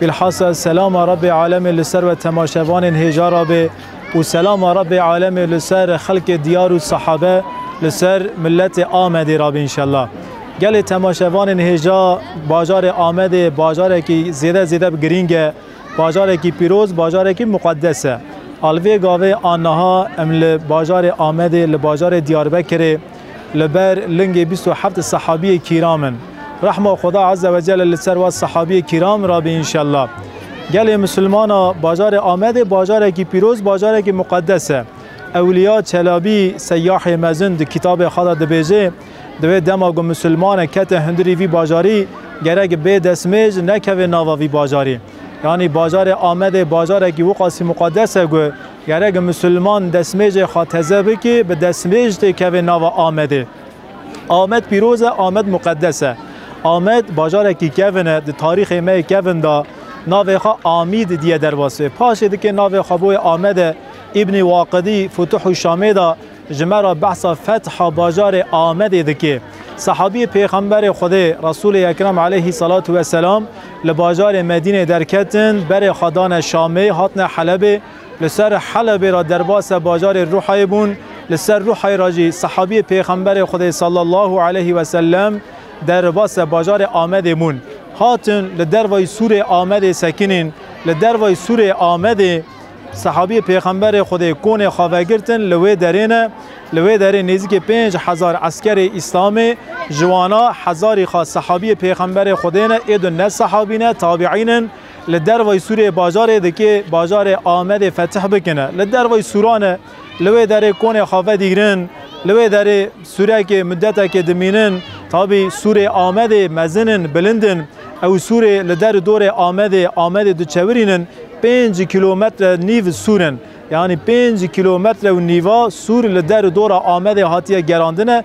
Bilhassa selama Rabbê Alemê li ser we temaşevanên hêja re be û selama Rabbê Alemê li ser xelkê Diyar û Sahabe li ser miletê Amedê re be înşella. Gelê temaşevanên hêja bajarê Amedê bajarekî zêde zêde bi girîng e. Bajarekî pîroz, bajarekî muqeddes e. A li vê gavê a niha em li bajarê Amedê li bajarê Diyarbekirê, Li ber lingê bîst û heft sehabiyê kîram in. Rehma Xweda Eze we Celle li ser wan sehabiyê kîram rabê înşella. Gelê misilmana bajarê Amedê bajarekî pîroz, bajarekî muqedes e. Ewliya Çelabî Seyyahê Mezin di kitabê xwe de dibêje, di wê dema ku misilmanek kete hundirî vî bajarî gerek bê destmêj nekeve nava vî bajarî. Yanî bajarê Amedê bajarekî wiqasî muqedes e ku Gerek Musulman destmêcê xwe teze bike, bi destmêj tê keve nava Amedê. Amed pîroz e, Amed muqedes e. Amed bajarekî kevin e, di tarîxê me yê kevin de navê xwe Amîd diye derbasê. Paşê dike navê xwe boyê Amed e. Îbnî Waqidî Futuhû Şamê de. Ji me re behsa fetha bajarê Amedê dike. Sehabî Pêxemberê Xwedê Resûlê Ekrem aleyhî selatu weselam li bajarê Medînê derketin, berê xwe dane Şamê, hatine Helebê. Li ser Helebê re derbase bajarê Ruhayê bûn. Li ser Ruhayê re jî sehabî Pêxemberê Xwedê sallallahu aleyhî weselem derbase bajarê Amedê bûn. Hatin li dervayî sûrê Amedê sekinîn. Li dervayî sûrê Amedê. Sehabî Pêxemberê Xwedê konê xwe vegirtin li wê derê ne, li wê derê nêzîkî pênc hezar eskerê Îslamê ji wan a hezarî xwe sehabî Pêxemberê Xwedê ne ê du ne sehabî ne tabîîn in li dervayî Sûriyê bajarê dikê bajarê Amedê fetih bikine li dervayî Sûra ne. Li wê derê konê xwe vedigrin, li wê derê sûrekê mudetekê dimînin. Tabî sûrê Amedê mezin in, bilind in. Ew sûrê li der û dorê Amedê, Amedê diçewirîn in. Pênc kîlometre nîv sûr in. Yanî pênc kîlometre û nîva sûr li der û dora Amedê hatiye gerandine.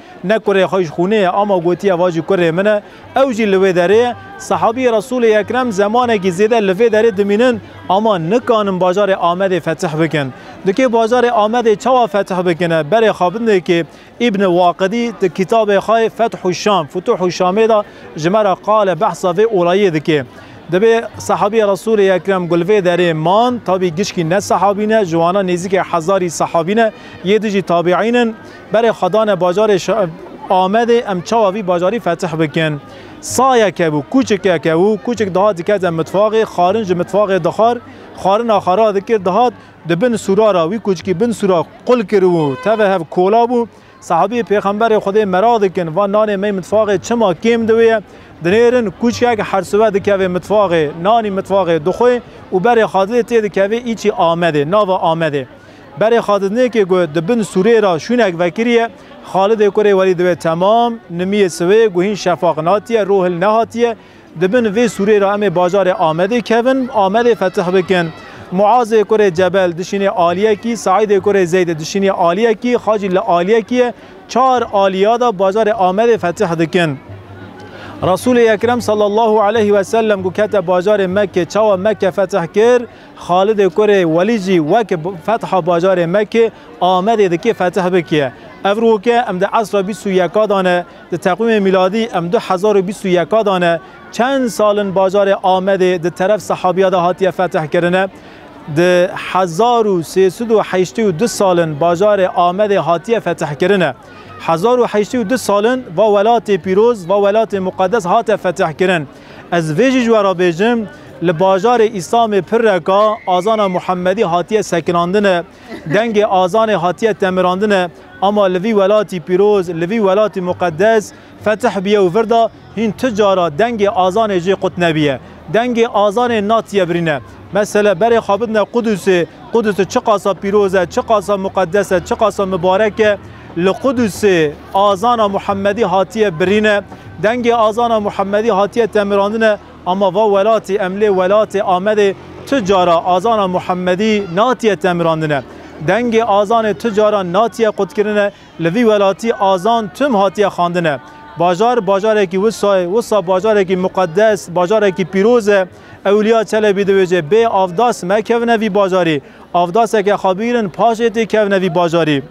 Ne kurê xwe ji xûnê ye ama gotiye va jî kurê min e, ew jî li wê derê ye. Sehabî Resûlê Ekrem zemanekî zêde li vê derê dimînin ama nikanin bajarê Amedê fetih bikin. Di kê bajarê Amedê çawa fetih bikine? Berê xabindekê Îbn Waqidî di kitabê xwe Fethû Şam, Futuhû Şamê de ji me re qale behsa vê olayê dike. Divê sehabî Resûlê Ekrem ku li vê derê man, tabî gişkî ne sehabî ne, ji wana nêzîkê hezarî sehabî ne, yê di jî tabîîn in, Berê xwe dane bajarê Amedê em çawa vî bajarî fetih bikin. Sayeke bû, kûçikeke bû, kûçik dihat dikete mitfaxê, xarin ji mitfaxê dixwar, xarina xwe radikir dihat, di bin sûra re, wî kûçikî bin sûra qul kiribû, tevê hev kola bû. Sahabî Pêxemberê Xwedê meraq dikin, van nanê mey mitfaxê çima kêm di wê ye. Dinêrin kûçikek her sibe dikeve mitfaxê, nanî mitfaxê dixwe û berê xwe dilê tê dikeve îçî Amedê, nava Amedê. Berê Xadidnêkê ku di bin sûrê re şûnek vekiriye, Xalidê kurê werî dibe temam, nimiyê siwê ku hîn şefaq natiye, rohil nehatiye, di bin vê sûrê re em ê bajarê Amedê kevin, Amedê fetih bikin. Muazê kurê Cebel dişînê aliyekî, Seîdê kurê Zeyd dişînê aliyekî, xacî li aliyekî ye, çar aliya de bajarê Amedê fetih dikin. Resûlê Ekrem sallallahu aleyh wesellem ku kete bajarê Mekkê, çawa Mekke fetih kir? Xalidê kurê Welî jî weke fetha bajarê Mekê, Amedê dikê fetih bike. Ev roke em di esra bîst û yeka de ne, di teqwîmê mîladî em du hezar û bîst û yeka de ne. Çend sal in bajarê Amedê di teref sehabîya de hatiye fetih kirine. Di hezar û sê sed û heştê û du sal in bajarê Amedê hatiye fetih kirine. Hezar û heştê û du sal in va welatê pîroz, va welatê muqedes hate fetih kirin. Ez vê jî ji we re bêjim, li bajarê Îsamê pirreka azana Muhemedî hatiye sekinandine, dengê azanê hatiye temirandine, ama li vî welatî pîroz, li vî welatî muqedes fetih biye û vir de hîn tu cara dengê azanê jê qut nebiye. Dengê azanê natiye birîne. Mesele berê xwe bidine Qudusê, Qudusê çiqasa pîroz e, çiqasa muqedes e, çiqasa mibarek e, li Qudusê, Azana Muhemedî hatiye birîne, dengê Azana Muhemedî hatiye temirandine ama va welatî em lê welatê Amedê tu cara Azana Muhemedî natiye temirandine. Dengê Azanê tu caran natiye qutkirine, li vî welatî Azan tim hatiye xandine. Bajar bajarekî wisa ye, wisa bajarekî muqedes, bajarekî pîroz e. Ewliya Çelebî diwêje bê avdas mekevine vî bajarî. Avdaseke xwe bigrin paşê tê kevine vî bajarî.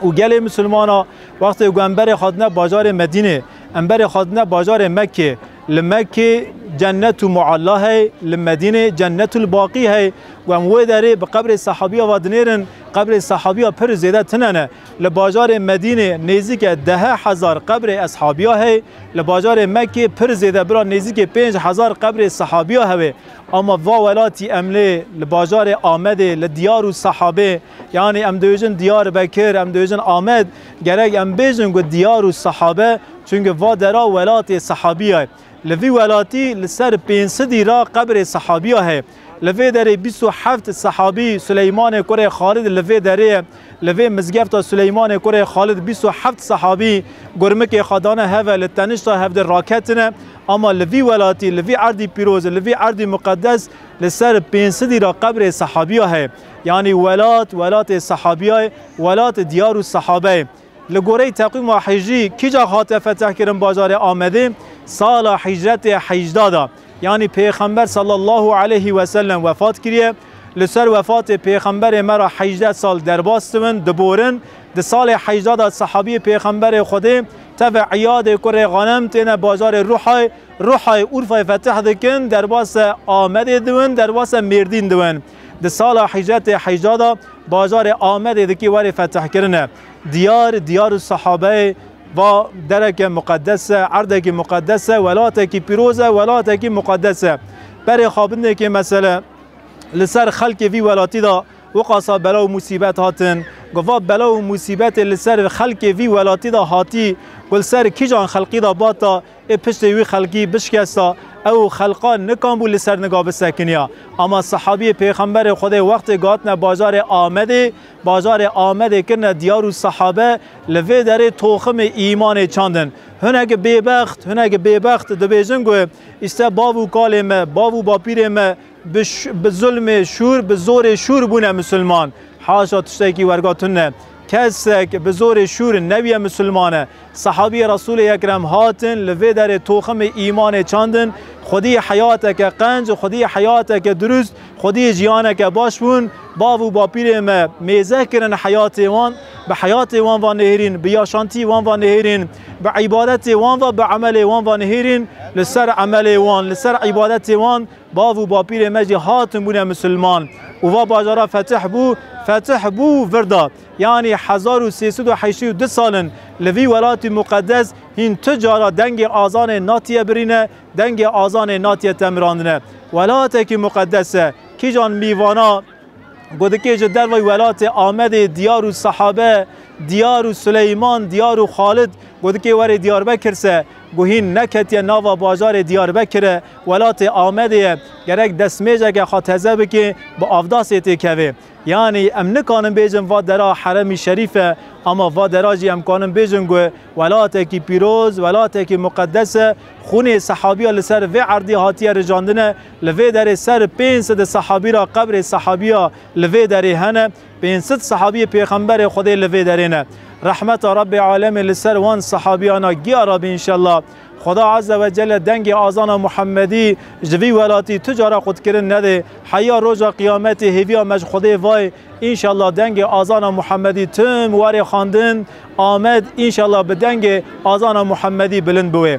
û gelê misilmana wextê ku em berê xwedine bajarê Medînê, em berê xwedine bajarê Mekkê, li Mekkê cennetu mualla hey, li Medînê cennetul baqî hey û em wê derê bi qebrê sehabîya ve dinêrin, qebrê sehabîya pir zêde tune ne. Li bajarê Medînê nêzîke dehe hezar qebrê eshabîya hey, li bajarê Mekkê pir zêde bira nêzîkê pênc hezar qebrê sehabîya hewê. Ama va welatî em lê li bajarê Amedê li diyar û sehabê, Yanî em dibêjin Diyarbekir, em dibêjin Amed, gerek em bêjin ku Diyar û Sahabe çunke va dera welatê Sahabiya ye. Li vî welatî li ser pênc sidî ra qebrê Sahabiya heye. Li vê derê bîst û heft Sahabî Sileymanê kurê Xalid li vê derê ye. Li vê mizgefta Sileymanê kurê Xalid bîst û heft Sahabî gurmikê xwe dane heve li tenişta hevdê raketine. Ama li vî welatî, li vî erdî pîroz, li vî erdî muqedes li ser pênc sidî ra qebrê Sahabiya heye. Yanî welat, welatê sehabiya ye, welatê diyar û sehabe ye. Li goreyî teqwîma hicrî kîca hatiye fetehkirin bajarê Amedê? Sala hicretê heyjda de. Yanî pêxember sallallahu aleyhî weselem wefat kiriye. Li ser wefatê pêxemberê me re heyjdeh sal derbas dibin, diborin. Di salê heyjda de sehabiyê pêxemberê Xwedê tevê Îyadê kurê Xanem têne bajarê Ruhay. Ruhay Urfayê feteh dikin, derbase Amedê diwin, derbase Mêrdîn diwin. Di sala hîcretê heyjda de bajarê Amedê dikî werê fetihkirine. Diyar, diyar û sahabeyê va dereke muqedes e, erdekî muqedes e, welatekî pîroz e, welatekî muqedes e. Berê xabitnekê mesele li ser xelkê vî welatî de wiqasa bela û musîbet hatin. Ku va bela û musîbetê li ser xelkê vî welatî de hatî, ku li ser kîjan xelqî de bata, Ê piştê wî xelkî bişkesta ew û xelqa nikan bû li ser niga bisekiniya. Ama sehabiyê Pêxemberê Xwedê wextê gatine bajarê Amedê, bajarê Amedê kirine diyar û sehabe li vê derê toximê îmanê çandin. Hinek bêbext, hinek bêbext dibêjin ku, Îşte bav û kalê me, bav û bapîrê me, Bi bi zulmê şûr, bi zorê şûr bûne musulman. Haşa tiştekî werga tune. Kesek bi zorê şûr nebiye musulman e. Sehabiyê Resûlê Ekrem hatin li vê derê toximê îmanê çandin, xwedî heyateke qenc, xwedî heyateke dirûst, xwedî jiyaneke baş bûn. Bav û bapîrên me mêze kirin heyatê wan, bi heyatê wan ve nihêrîn, bi yaşantî wan ve nihêrîn, bi îbadetê wan ve, bi emelê wan ve nihêrîn, li ser emelê wan, li ser îbadetê wan, Bav û bapîrên me jî hatin bûne misilman û va bajara fetih bû, fetih bû virda. Yanî hezar û sê sed û heştê û du sal in li vî welatî muqedes hîn tu cara dengê azanê natiye birîne, dengê azanê natiye temirandine. Welatekî muqedes e, kîjan mîvana Ku dikê ji dervayî welatê Amedê, Diyar û Sahabe, Diyar û Suleyman, Diyar û Xalid, ku dikê were Diyarbekir se, ku hîn neketiye nava bajarê Diyarbekir e, welatê Amedê ye, gerek destmêceke xwe teze bike bi avdasê têkeve. Yanî em nikanin bêjin va dera heremî şerîf e, ama va dera jî em kanin bêjin ku welatekî pîroz, welatekî muqedes e, xûnê sehabîya li ser vê erdê hatiye rijandine, Li vê derê ser pênc sed sehabî re qebrê sehabîya li vê derê hene. Pênc sed sehabîyê Pêxemberê Xwedê li vê derê ne. Rehmeta Rebbê Alemê li ser wan sehabîyan a giya re be înşella. Xweda Eze ve Celle dengê azana Muhemedî ji vî welatî tu cara qutkirin nedê. Heya roja qiyametê hêvîya me ji Xwedê vayê înşella dengê azana Muhemedî tim warê xandin Amed înşella bi dengê azana Muhemedî bilind biwê.